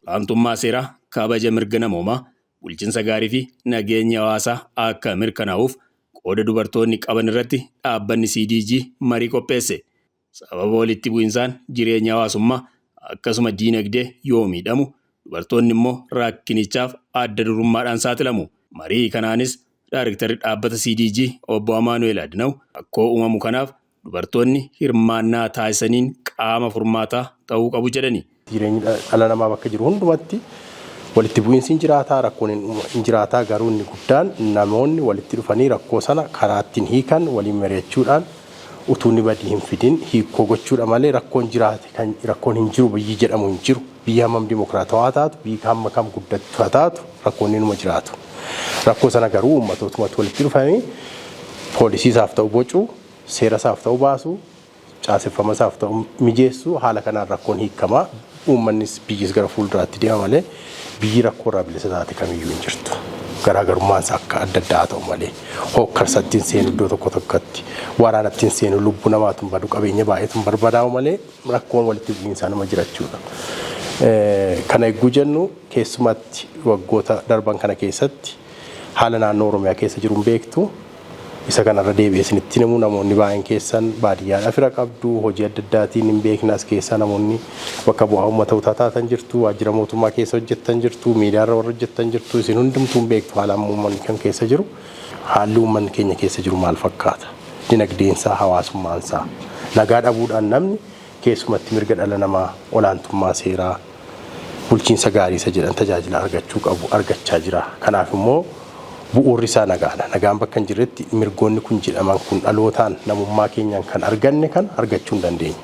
Olaantummaa seeraa, kabaja mirga namoomaa, bulchinsa gaarii fi nageenya hawaasaa akka mirkanaa'uuf qooda dubartoonni qaban irratti dhaabbanni CDG marii qopheesse. Sababa walitti bu'insaan jireenyi hawaasummaa akkasuma diinagdee yoo miidhamu dubartoonni immoo rakkinichaaf adda durummaadhaan saaxilamu. Marii kanaanis Daarektarri Dhaabbata CDG Obbo Amaanu'eel Adnaw rakkoo uumamu kanaaf dubartoonni hirmaannaa taasisaniin qaama furmaataa ta'uu qabu jedhani. Jireenyi dhala namaa bakka jiru hundumatti walitti bu'iinsi hin jiraataa, rakkoon hin jiraataa garuu inni guddaan namoonni walitti dhufanii rakkoo sana karaa ittiin hiikan waliin mari'achuudhaan utuu inni badii hin fidin hiikkoo gochuudha malee rakkoon jiraate kan rakkoon hin jiru biyyi jedhamu hin jiru. Biyyi hammam dimokiraatawaa taatu, biyyi hamma kam guddattu haa taatu rakkoon inuma jiraatu. Rakkoo sana garuu uummatootuma walitti dhufanii poolisii isaaf ta'u bocu, seera isaaf ta'u baasu, caaseffamasaaf ta'u mijeessu haala kanaan rakkoon hiikama. Uummannis biyyis gara fuulduraatti deema malee biyyi rakkoorraa bilisa taate kamiyyuu hin jirtu. Garaagarummaansa akka adda addaa haa ta'u malee hookkarsatti hin seenu iddoo tokko tokkotti waraanatti hin seenu lubbuu namaatu hin badu qabeenya baay'eetu hin barbadaa'u malee rakkoon walitti bu'iinsaa nama jirachuudha. Kana egguu jennu keessumatti waggoota darban kana keessatti haala naannoo Oromiyaa keessa jiruun beektu Isa kana irra deebi'ee isinitti hin himu namoonni baay'een keessan baadiyyaadhaa fira qabdu hojii adda addaatiin hin beekna as keessaa namoonni bakka bu'aa uummata utaa taatan jirtu waajjira mootummaa keessa hojjettan jirtu miidiyaarra warra hojjettan jirtu isin hundumtuu hin beektu haala amma uummanni kan keessa jiru haalli uummanni keenya keessa jiru maal fakkaata dinagdeensaa hawaasummaansaa nagaa dhabuudhaan namni keessumatti mirga dhala namaa olaantummaa seeraa bulchiinsa gaarii isa jedhan tajaajila argachuu qabu argachaa jira. Kanaaf immoo bu'uurri isaa nagaadha. Nagaan bakka hin jirretti mirgoonni kun jedhaman kun dhalootaan namummaa keenyaan kan arganne kan argachuu hin dandeenyu.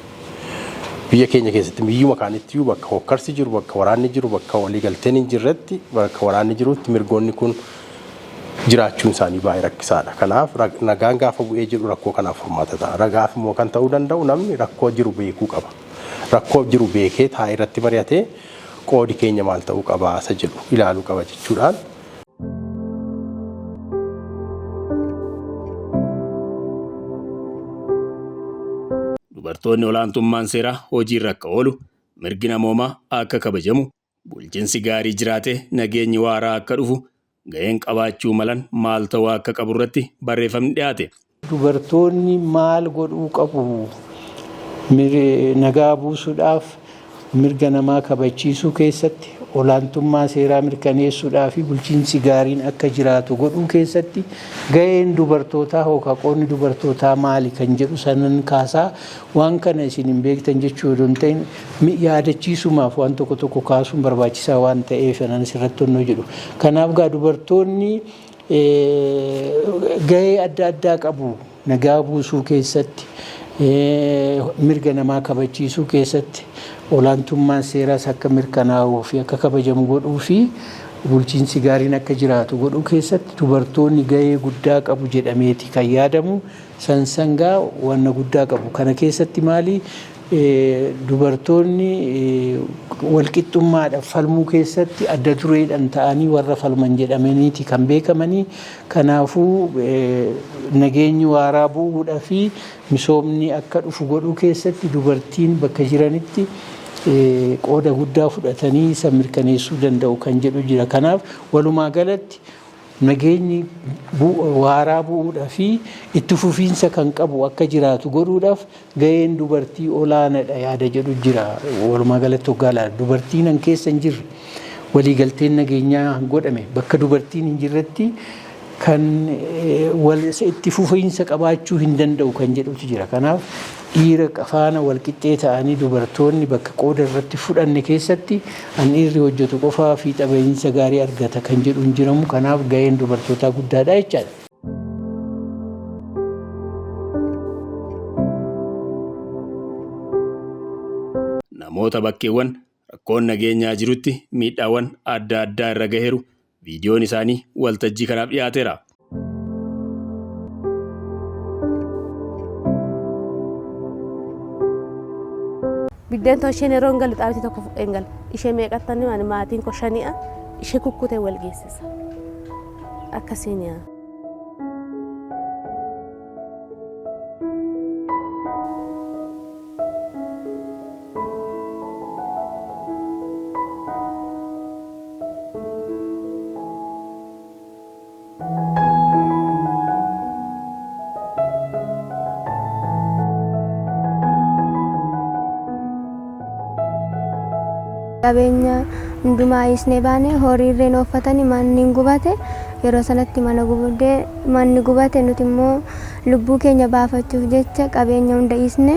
Biyya keenya keessatti biyyuma kaanittiyyuu bakka hokkarsi jiru, bakka waraanni jiru, bakka waliigalteen hin jirretti, bakka waraanni jirutti mirgoonni kun jiraachuun isaanii baay'ee rakkisaadha. Kanaaf nagaan gaafa bu'ee jedhu rakkoo kanaaf furmaata ta'a. Ragaaf immoo kan ta'uu danda'u namni rakkoo jiru beekuu qaba. rakkoo jiru beekee taa'ee irratti mari'atee qoodi keenya maal ta'uu qaba isa jedhu ilaaluu qaba jechuudhaan. Dubartoonni olaantummaan seeraa hojiirra akka oolu, mirgi namoomaa akka kabajamu, Bulchinsi gaarii jiraatee nageenyi waaraa akka dhufu gaheen qabaachuu malan maal ta'uu akka qabu irratti barreeffamni dhiyaate. Dubartoonni maal godhuu qabu? Nagaa buusuudhaaf, mirga namaa kabachiisuu keessatti, olaantummaa seeraa mirkaneessuudhaa fi bulchiinsi gaariin akka jiraatu godhuu keessatti gaheen dubartootaa hoo kaqoonni dubartootaa maali kan jedhu sanan kaasaa Waan kana isin hin beektan jechuu odoo hin ta'in yaadachiisumaaf waan tokko tokko kaasuun barbaachisaa waan ta'eef anan asirratti onnoo jedhu. Kanaaf gaa dubartoonni gahee adda addaa qabu nagaa buusuu keessatti, mirga namaa kabachiisuu keessatti, olaantummaan seeraas akka mirkanaa'uu fi akka kabajamu godhuu fi bulchiinsi gaariin akka jiraatu godhuu keessatti dubartoonni gahee guddaa qabu jedhameeti kan yaadamu. San sangaa wanna guddaa qabu. Kana keessatti maali dubartoonni walqixxummaadhaf falmuu keessatti adda dureedhan ta'anii warra falman jedhamaniiti kan beekamanii. Kanaafuu nageenyi waaraa bu'uudhafi misoomni akka dhufu godhuu keessatti dubartiin bakka jiranitti qooda guddaa fudhatanii san mirkaneessuu danda'u kan jedhu jira. Kanaaf walumaa galatti Nageenyi waaraa bu'uudha fi itti fufiinsa kan qabu akka jiraatu godhuudhaaf gaheen dubartii olaanadha yaada jedhu jira. Walumaa galatti hoggaa ilaalu dubartiin an keessa hin jirre waliigalteen nageenyaa godhame bakka dubartiin hin jirretti kan itti fufiinsa qabaachuu hin danda'u kan jedhutu jira. Kanaaf Dhiira faana walqixxee ta'anii dubartoonni bakka qooda irratti fudhanne keessatti an dhiirri hojjetu qofaa fiixa bahiinsa gaarii argata kan jedhu hin jiramu kanaaf gaheen dubartootaa guddaadha jechaadha. Namoota bakkeewwan rakkoon nageenyaa jirutti miidhaawwan adda addaa irra gaheeru Viidiyoon isaanii waltajjii kanaaf dhiyaateera. Biddeen too isheen yeroo hin galu xaabiti tokko fudhee hin galu. Ishee meeqattanni waan maatiin koo shani'a ishee kukkutee wal geessisa. Akkasiin yaa. qabeenya hundumaa dhiisnee baane horii irreen ooffatani manni hin gubate yeroo sanatti mana gubdee manni gubate nuti immoo lubbuu keenya baafachuuf jecha qabeenya hunda dhiisne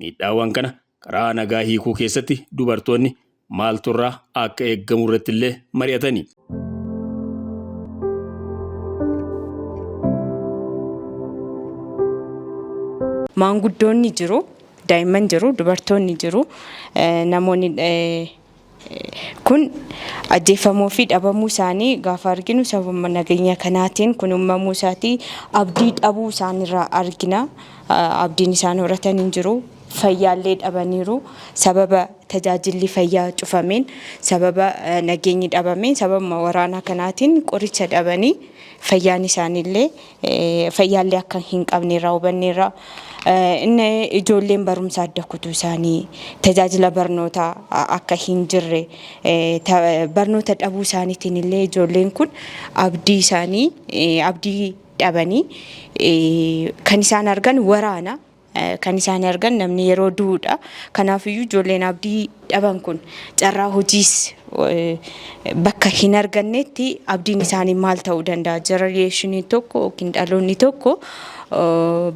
Miidhaawwan kana karaa nagaa hiikuu keessatti dubartoonni maaltu irraa akka eeggamu irratti illee mari'atani. Maanguddoonni jiru, daa'imman jiru, dubartoonni jiru, namoonni kun ajjeefamuu fi dhabamuu isaanii gaafa arginu sababa nageenya kanaatiin kun uumamuu isaatii abdii dhabuu isaanirraa argina. Abdiin isaan horatan hin jiru. fayyaallee dhabaniiru. Sababa tajaajilli fayyaa cufameen, sababa nageenyi dhabameen, sababuma waraanaa kanaatiin qoricha dhabanii fayyaan isaaniillee fayyaallee akka hin qabne irraa hubanneerra. Inni ijoolleen barumsa adda kutuu isaanii, tajaajila barnootaa akka hin jirre, barnoota dhabuu isaaniitiin illee ijoolleen kun abdii isaanii abdii dhabanii kan isaan argan waraana. kan isaan argan namni yeroo du'uudha. Kanaafiyyuu ijoolleen abdii dhaban kun carraa hojiis bakka hin argannetti abdiin isaanii maal ta'uu danda'a? Jeneraashiniin tokko yookiin dhaloonni tokko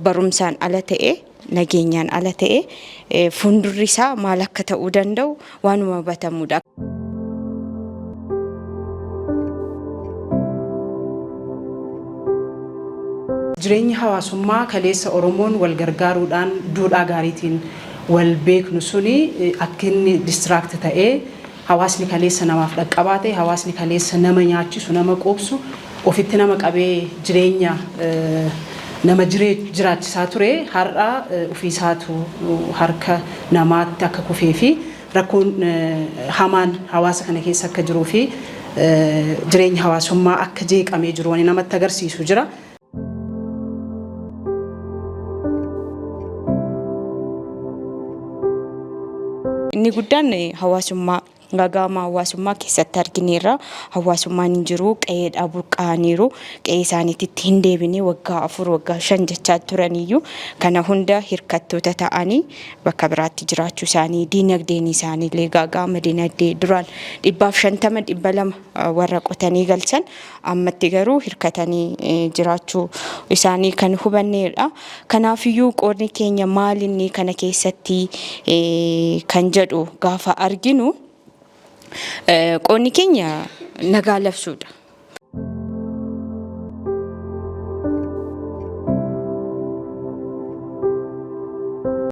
barumsaan ala ta'e nageenyaan ala ta'e fuuldurri isaa maal akka ta'uu danda'u waanuma hubatamuudha. Jireenyi hawaasummaa kaleessa Oromoon wal gargaaruudhaan duudhaa gaariitiin wal beeknu suni akka inni distract ta'ee hawaasni kaleessa namaaf dhaqqabaa ta'e, hawaasni kaleessa nama nyaachisu, nama quubsu ofitti nama qabee jireenya nama jiraachisaa ture har'a ofiisaatu harka namaatti akka kufee fi rakkoon hamaan hawaasa kana keessa akka jiruu fi jireenyi hawaasummaa akka jeeqamee jiru wani namatti agarsiisu jira. Inni guddaan hawaasummaa Gaaga'ama hawaasummaa keessatti argineerra. Hawaasummaan hin jiru, qe'eedhaa burqa'aniiru. Qe'ee isaaniititti hin deebine waggaa afur, waggaa shan jechaa turaniyyuu kana hunda hirkattoota ta'anii bakka biraatti jiraachuu isaanii, diinagdeen isaaniillee gaaga'ama dinagdee duraan dhibbaaf shantama, dhibba lama warra qotanii galchan Ammatti garuu hirkatanii jiraachuu isaanii kan hubanneedha. Kanaafiyyuu qoodni keenya maalinni kana keessatti kan jedhu gaafa arginu qoodni keenya nagaa labsuudha.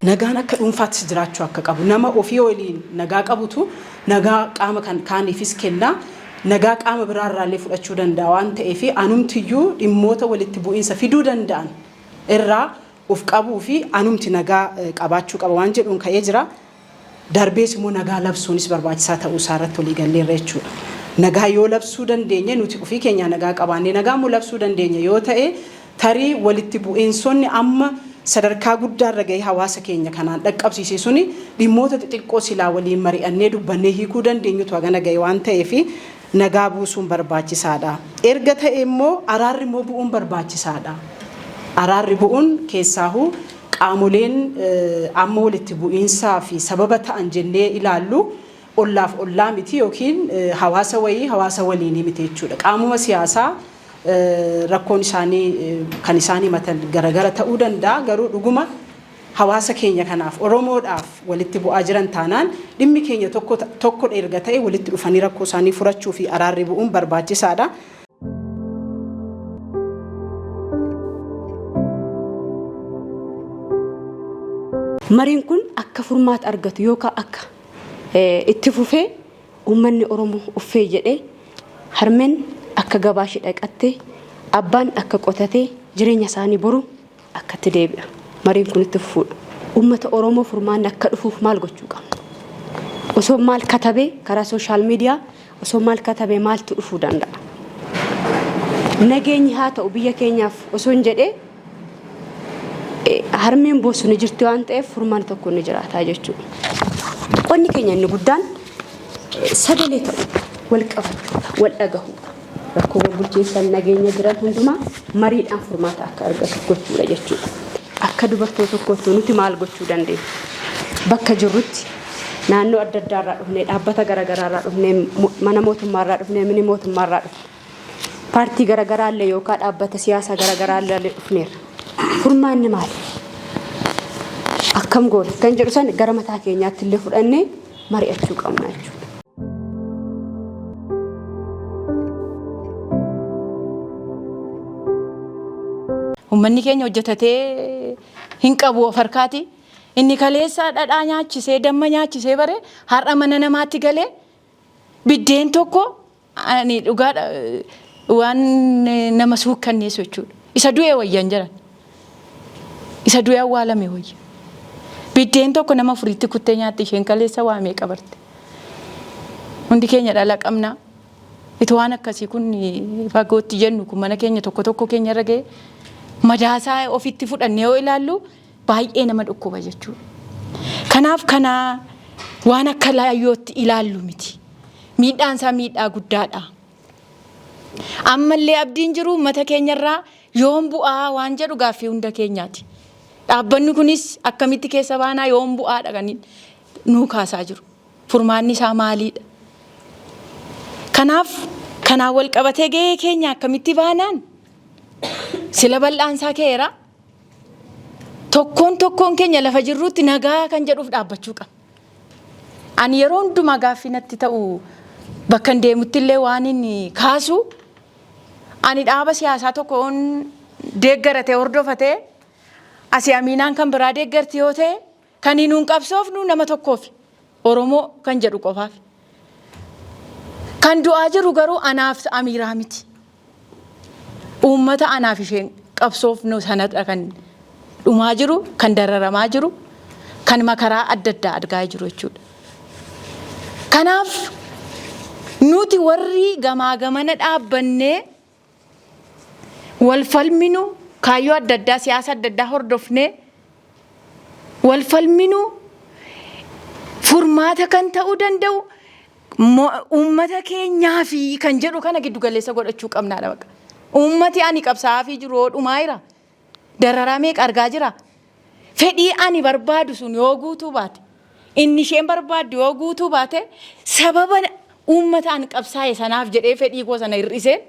Nagaan akka dhuunfaattis jiraachuu akka qabu. Nama ofii waliin nagaa qabutu nagaa qaama kan kaaniifis kenna. nagaa qaama biraa irraa illee fudhachuu danda'a waan ta'eef anumti iyyuu dhimmoota walitti bu'iinsa fiduu danda'an irraa of qabuu fi anumti nagaa qabaachuu qaba waan jedhuun ka'ee jira. Darbees immoo nagaa labsuunis barbaachisaa ta'uu isaa irratti walii galleerra jechuudha. Nagaa yoo labsuu dandeenye nuti ofii keenyaa nagaa qabaannee nagaa immoo labsuu dandeenya yoo ta'e Tarii walitti bu'iinsonni amma sadarkaa guddaarra ga'ee hawaasa keenya kanaan dhaqqabsiise suni dhimmoota xixiqqoo silaa waliin mari'annee dubbannee hiikuu dandeenyutu hagana ga'e waan ta'eef nagaa buusuun barbaachisaadha. Erga ta'ee immoo araarri immoo bu'uun barbaachisaadha. Araarri bu'uun keessaahuu qaamoleen amma walitti bu'iinsaafi sababa ta'an jennee ilaallu, ollaaf ollaa miti yookiin hawaasa wayii hawaasa waliinii miti jechuudha. Qaamuma siyaasaa rakkoon isaanii kan isaan himatan garagara ta'uu danda'a garuu dhuguma hawaasa keenya kanaaf Oromoodhaaf walitti bu'aa jiran taanaan dhimmi keenya tokkodha erga ta'e walitti dhufanii rakkoo isaanii furachuu fi araarri bu'uun barbaachisaadha. Mariin kun akka furmaata argatu yookaa akka. Itti fufee uummanni Oromoo uffee jedhee harmeen akka gabaa ishee dhaqattee abbaan akka qotatee jireenya isaanii boru akkatti deebi'a. Mariin kun itti fufuudha. Uummata Oromoo furmaanni akka dhufuuf maal gochuu qabna? Osoo maal katabee karaa sooshaal miidiyaa Osoo maal katabee maaltu dhufuu danda'a? Nageenyi haa ta'u biyya keenyaaf osoon jedhee harmeen boossu ni jirti waan ta'eef furmaanni tokko ni jiraata jechuudha. Qonni keenya inni guddaan sagalee ta'u wal qabachuudha, wal dhagahuudha. Rakkoowwan bulchiinsa nageenya jiran hundumaa mariidhaan furmaata akka argatu gochuudha jechuudha. Akka dubartoota tokkootti nuti maal gochuu dandeenya? Bakka jirrutti naannoo adda addaa irraa dhufnee, dhaabbata garagaraa irraa dhufnee, mo- mana mootummaa irraa dhufnee, mini mootummaa irraa dhufne, paartii garagaraa illee yookaan dhaabbata siyaasaa garagaraa illee dhufneerra. Furmaanni maali? Akkam goona? Kan jedhu san gara mataa keenyaatti illee fudhannee mari'achuu qabna jechuudha. Uummanni keenya hojjetatee hin qabu of harkaati. Inni kaleessaa dhadhaa nyaachisee damma nyaachisee bare har'a mana namaatti galee biddeen tokko Ani dhugaadha waan nama suukkanneessu jechuudha. Isa du'e wayya hin jedhan. Isa du'e awwaalame wayya. Biddeen tokko nama furiitti kuttee nyaatti isheen kaleessa waa meeqa barte. Hundi keenya dhala qabna. Itoo waan akkasii kun fagootti jennu kun mana keenya tokko tokko keenya irra ga'e madaasaa ofitti fudhannee yoo ilaallu baay'ee nama dhukkuba jechuudha. Kanaaf kana waan akka laayyootti ilaallu miti. Miidhaan isaa miidhaa guddaadha. Ammallee abdiin jiru uummata keenyarraa yoom bu'aa waan jedhu gaaffii hunda keenyaati. Dhaabbanni kunis akkamitti keessa baanaa yoom bu'aadha kan nuu kaasaa jiru. Furmaanni isaa maaliidha? Kanaaf kanaan wal qabatee gahee keenya akkamitti baanaan sila bal'aan isaa ka'eera. Tokkoon tokkoon keenya lafa jirruutti nagaa kan jedhuuf dhaabbachuu qabna. Ani yeroo hundumaa gaaffii natti ta'u bakka hin deemutti illee waan inni kaasu ani dhaaba siyaasaa tokkoon deeggaratee hordofatee asii amiinaan kan biraa deeggarti yoo ta'e Kani nuun qabsoofnu nama tokkoofi. Oromoo kan jedhu qofaafi. Kan du'aa jiru garuu anaaf Amiiraa miti. Uummata anaaf isheen qabsoofnu sanadha kan dhumaa jiru, kan dararamaa jiru, kan makaraa adda addaa argaa jiru jechuudha. Kanaaf nuti warri gamaa gamana dhaabbannee wal falminu kaayyoo adda addaa siyaasa adda addaa hordofnee wal falminu furmaata kan ta'uu danda'u uummata keenyaa fi kan jedhu kana giddu galeessa godhachuu qabnaadha baqa. Uummati ani qabsaa'aa fi jiru dhumaa jira. Dararaa meeqa argaa jira? Fedhii ani barbaadu sun yoo guutuu baate, inni isheen barbaaddu yoo guutuu baate, sababa uummata an qabsaa'e sanaaf jedhee fedhii koo sana hir'iseen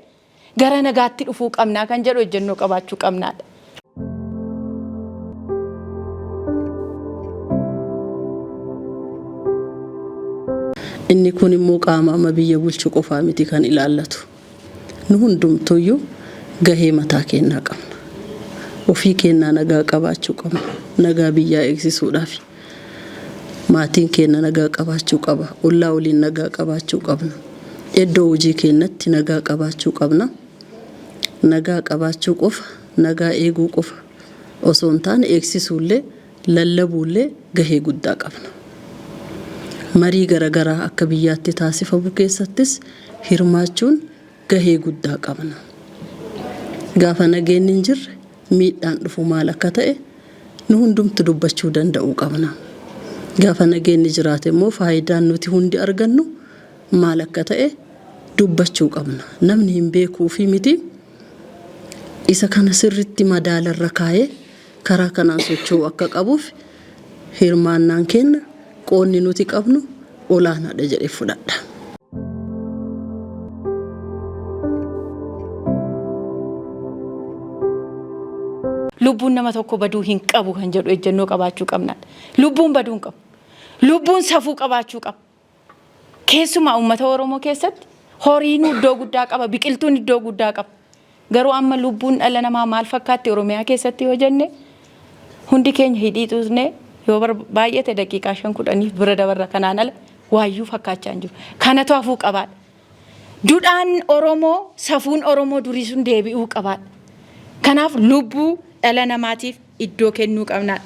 gara nagaatti dhufuu qabnaa kan jedhu ejjennoo qabaachuu qabnaadha. Inni kun immoo qaama amma biyya bulchu qofaa miti kan ilaallatu. Nu hundumtuuyyuu gahee mataa keennaa qabna. Ofii keennaa nagaa qabaachuu qabna. Nagaa biyyaa eegsisuudhaafi. Maatiin keenna nagaa qabaachuu qaba. Ollaa waliin nagaa qabaachuu qabna. Eddoo hojii keennatti nagaa qabaachuu qabna. Nagaa qabaachuu qofa, nagaa eeguu qofa osoo hin taane eegsisuullee, lallabuullee gahee guddaa qabna. Marii garagaraa akka biyyaatti taasifamu keessattis hirmaachuun gahee guddaa qabna. Gaafa nageenni hin jirre miidhaan dhufu maal akka ta'e nu hundumtu dubbachuu danda'uu qabna. Gaafa nageenni jiraate immoo faayidaan nuti hundi argannu maal akka ta'e dubbachuu qabna. Namni hin beekuufii miti. Isa kana sirriitti madaalarra kaa'ee Karaa kanaan socho'uu akka qabuuf hirmaannaan keenna, qoodni nuti qabnu olaanaadha jedhee fudhadha. Lubbuun nama tokkoo baduu hin qabu kan jedhu ejjennoo qabaachuu qabna. Lubbuun baduu hin qabu. Lubbuun safuu qabaachuu qaba. Keessumaa uummata Oromoo keessatti horiinuu iddoo guddaa qaba, biqiltuun iddoo guddaa qaba. Garuu amma lubbuun dhala namaa maal fakkaatti Oromiyaa keessatti yoo jenne hundi keenya hidhii xuuxnee yoo baay'ate daqiiqaa shan kudhaniif bira dabarra kanaan ala waayyuu fakkaachaa hin jiru. Kanatu hafuu qabaadha. Dudhaan Oromoo, safuun Oromoo durii sun deebi'uu qaba. Kanaaf lubbuu dhala namaatiif iddoo kennuu qabna.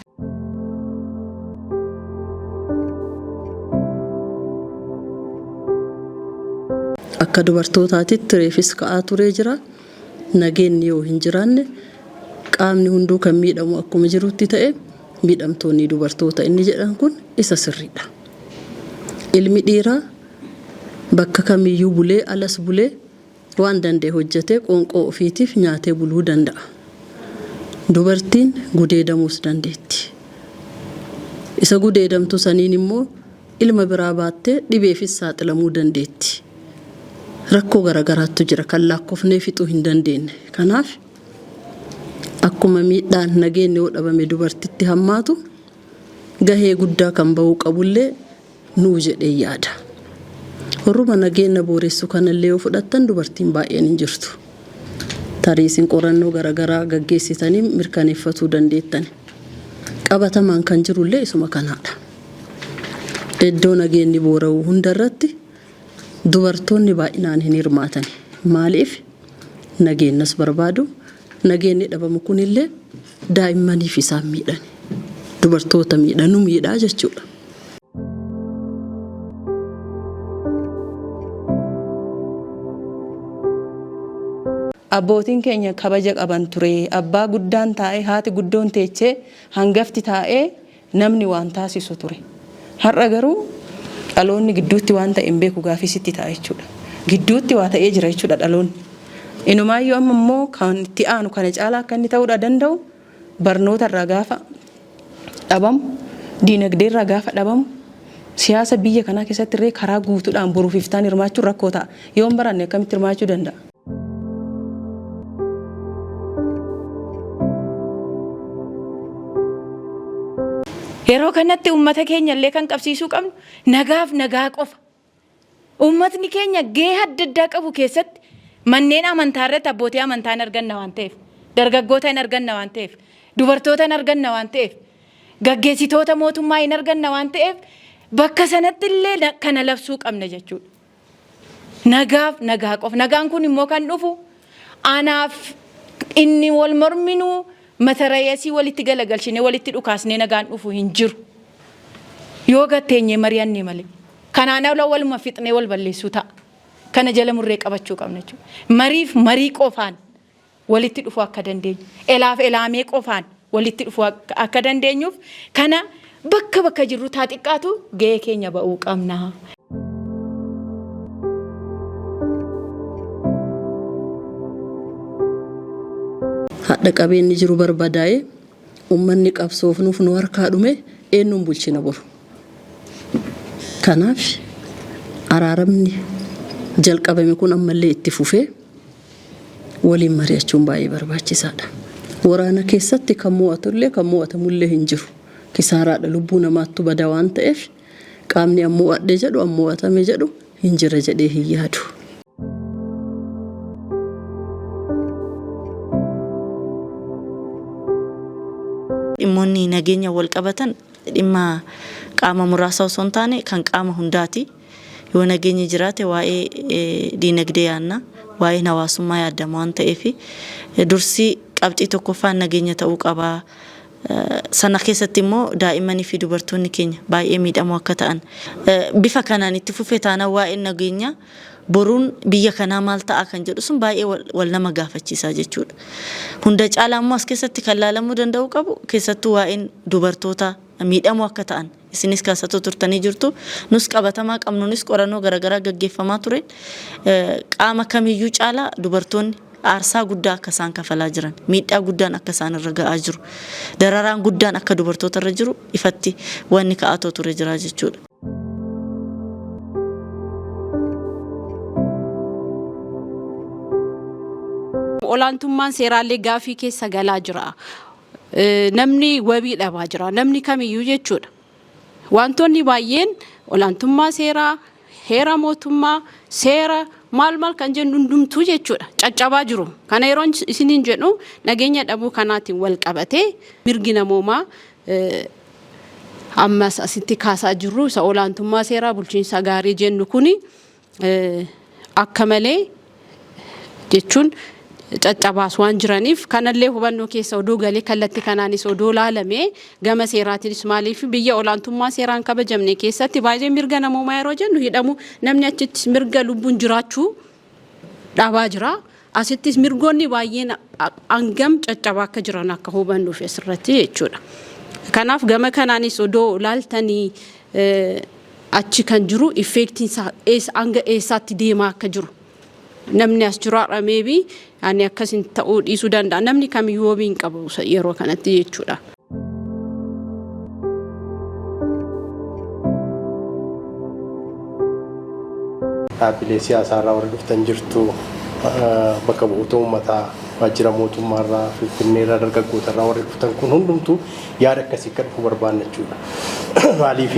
Akka dubartootaatitti reefis ka'aa turee jira. Nageenni yoo hin jiraanne qaamni hunduu kan miidhamu akkuma jirutti ta'e miidhamtoonni dubartoota inni jedhan kun isa sirriidha. Ilmi dhiiraa Bakka kamiyyuu bulee alas bulee waan danda'e hojjetee qoonqoo ofiitiif nyaatee buluu danda'a. Dubartiin gudeedamuus dandeetti. Isa gudeedamtu saniin immoo ilma biraa baattee dhibeefis saaxilamuu dandeetti. Rakkoo garagaraattu jira kan laakkofnee fixuu hin dandeenne. Kanaaf akkuma miidhaan nageenni yoo dhabame dubartitti hammaatu gahee guddaa kan bahuu qabullee nuu jedhee yaada. Warruma nageenna booressu kana illee yoo fudhattan dubartiin baay'een hin jirtu. Tarii isin qorannoo garagaraa gaggeessitanii mirkaneeffatuu dandeettan. Qabatamaan kan jiru illee isuma kanaadha. Iddoo nageenni boora'u hunda irratti dubartoonni baay'inaan hin hirmaatani. Maaliif? Nageennas barbaadu. Nageenni dhabamu kun illee daa'immaniif isaan miidhani. Dubartoota miidha, nu miidha jechuudha. Abbootiin keenya kabaja qaban ture. Abbaa guddaan taa'ee, haati guddoon teechee, hangafti taa'ee namni waan taasisu ture. Har'a garuu dhaloonni gidduutti waan ta'e hin beeku gaafii sitti ta'a jechuudha. Gidduutti waa ta'ee jira jechuudha dhaloonni. Inumaayyuu amma immoo kan itti aanu kana caalaa akka inni ta'uudha danda'u Barnoota irraa gaafa dhabamu, diinagdee irraa gaafa dhabamu, siyaasa biyya kanaa keessatti illee karaa guutuudhaan boruuf iftaan hirmaachuun rakkoo ta'a. Yoo hin baranne akkamitti hirmaachuu danda'a? Yeroo kanatti uummata keenya illee kan qabsiisuu qabnu nagaaf nagaa qofa. Uummatni keenya gahee adda addaa qabu keessatti manneen amantaa irratti abbootii amantaa hin arganna waan ta'eef, dargaggoota hin arganna waan ta'eef, dubartoota hin arganna waan ta'eef, gaggeessitoota mootummaa hin arganna waan ta'eef bakka sanatti illee kana labsuu qabna jechuudha. Nagaaf nagaa qofa. Nagaan kun immoo kan dhufu Anaaf inni wal morminu matarayasii walitti galagalchinee walitti dhukaasnee nagaan dhufu hin jiru. Yoo gad teenyee mari'anne malee. Kanaan ala waluma fixnee wal balleessuu ta'a. Kana jala murree qabachuu qabna jechuudha. Mariif marii qofaan walitti dhufuu akka dandeenyu. Elaaf elaamee qofaan walitti dhufuu akka dandeenyuuf kana bakka bakka jirru taa xiqqaatu ga'ee keenya ba'uu qabna. Hadha qabeenni jiru barbadaa'e ummanni qabsoofnuuf nu harkaa dhume eennuun bulchina boru. Kanaaf araaramni jalqabame kun ammallee itti fufee waliin mari'achuun baay'ee barbaachisaadha. Waraana keessatti kan mo'atullee kan mo'atamullee hin jiru. Kisaaraadha lubbuu namaattu bada waan ta'eef qaamni an mo'adhe jedhu an mo'atame jedhu hin jira jedhee hin yaadu. Dhimmoonni nageenyaan walqabatan dhimma qaama muraasaa osoo hin taane kan qaama hundaati. Yoo nageenyi jiraate waa'ee diinagdee yaadna, waa'een hawaasummaa yaadama waan ta'eef dursi qabxii tokkoffaan nageenya ta'uu qaba. Sana keessatti immoo daa'immanii fi dubartoonni keenya baay'ee miidhamoo akka ta'an. Bifa kanaan itti fufe taanaan waa'een nageenyaa boruun biyya kanaa maal ta'a kan jedhu sun baay'ee wal, wal nama gaafachiisa jechuudha. Hunda caalaa immoo as keessatti kan laalamuu danda'uu qabu keessattuu waa'een dubartootaa miidhamoo akka ta'an. Isinis kaasatuu turtanii jirtu. Nus qabatamaa qabnuunis qorannoo garagaraa gaggeeffamaa tureen qaama kamiyyuu caalaa dubartoonni aarsaa guddaa akka isaan kafalaa jiran, miidhaa guddaan akka isaan irra ga'aa jiru, dararaan guddaan akka dubartoota irra jiru ifatti wanni ka'aatoo ture jira jechuudha. Olaantummaan seeraallee gaafii keessa galaa jira. namni wabii dhabaa jira. Namni kamiyyuu jechuudha. Wantoonni baay'een olaantummaa seeraa, heera mootummaa, seera maal maal kan jennu hundumtuu jechuudha. Caccabaa jiru. Kana yeroon isiniin jedhu nageenya dhabuu kanaatiin wal qabatee mirgi namoomaa ammas asitti kaasaa jirru isa olaantummaa seeraa bulchiinsa gaarii jennu kuni akka malee jechuun caccabaas waan jiraniif kanallee hubannoo keessa odoo galee kallatti kanaanis odoo laalame gama seeraatiinis maaliif biyya olaantummaa seeraan kabajamne keessatti baay'ee mirga namoomaa yeroo jennu hidhamu namni achitti mirga lubbuun jiraachuu dhabaa jira. Asittis mirgoonni baay'een hangam caccabaa akka jiran akka hubannuuf asirratti jechuudha. Kanaaf gama kanaanis odoo ilaaltanii achi kan jiru effeektiin isaa hanga eessaatti deemaa akka jiru namni as jiru har'a meebii ani akkasin ta'uu dhiisuu danda'a namni kamiyyuu wabii hin qabu yeroo kanatti jechuudha. dhaabbilee siyaasaa irraa warri dhuftan jirtu bakka bu'oota uummataa waajjira mootummaa irraa finfinnee irraa dargaggoota irraa warri dhuftan kun hundumtuu yaada akkasii akka dhufu barbaanna jechuudha. Maaliif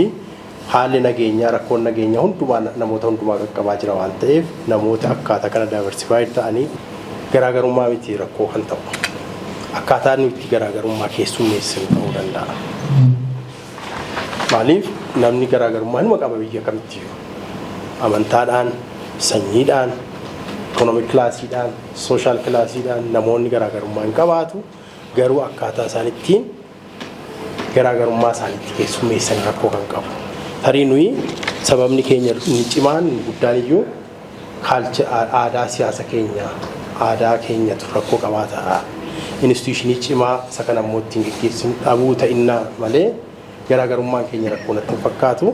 Haalli nageenyaa rakkoon nageenyaa hundumaa namoota hundumaa qaqqabaa jira waan ta'eef namoota akkaataa kana diversified ta'anii garaagarummaa miti rakkoo kan ta'u. Akkaataa nu itti garaagarummaa keessummeessinu ta'uu danda'a. Maaliif namni garaagarummaa numa qaba biyya kamittiyyuu. Amantaadhaan, sanyiidhaan, ikoonoomik kilaasiidhaan, sooshaal kilaasiidhaan namoonni garaagarummaa hin qabaatu. Garuu akkaataa isaan ittiin garaagarummaa isaaniitti keessummeessan rakkoo kan qabu. Tarii nuyi sababni keenya inni cimaan inni guddaan iyyuu kaalcha aadaa siyaasa keenya aadaa keenyatu rakkoo qabaata. Instituushinii cimaa isa kana immoo ittiin geggeessinu dhabuu ta'innaa malee garaagarummaan keenya rakkoo natti hin fakkaatu.